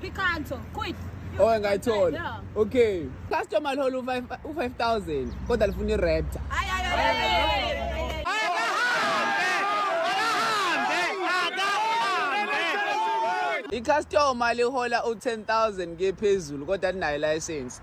Picanto, quit. Oh, ngayithola. Yeah. Okay. Customer lihole u-5000 kodwa lifuna i-raptor. Hayi hayi hayi. I-customer lihola u-10000 kephezulu kodwa linayo license.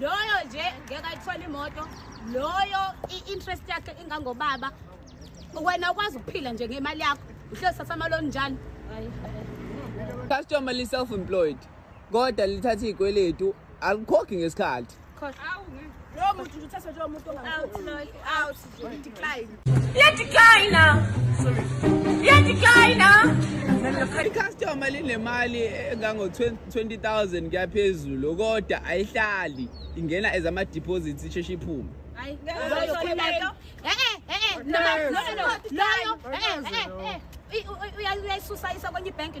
loyo nje ngeke ayithole imoto loyo i-interest yakhe ingangobaba wena ukwazi ukuphila nje ngemali yakho uhlezi thatha amaloni njalo customer li-self employed kodwa lithatha iy'kweletu alikhokhi ngesikhathi Out, Lord. icustomer linemali engango-20000 kuyaphezulu kodwa ayihlali ingena as ama-deposits isheshe iphume uyayisusa isa kwenye ibhenki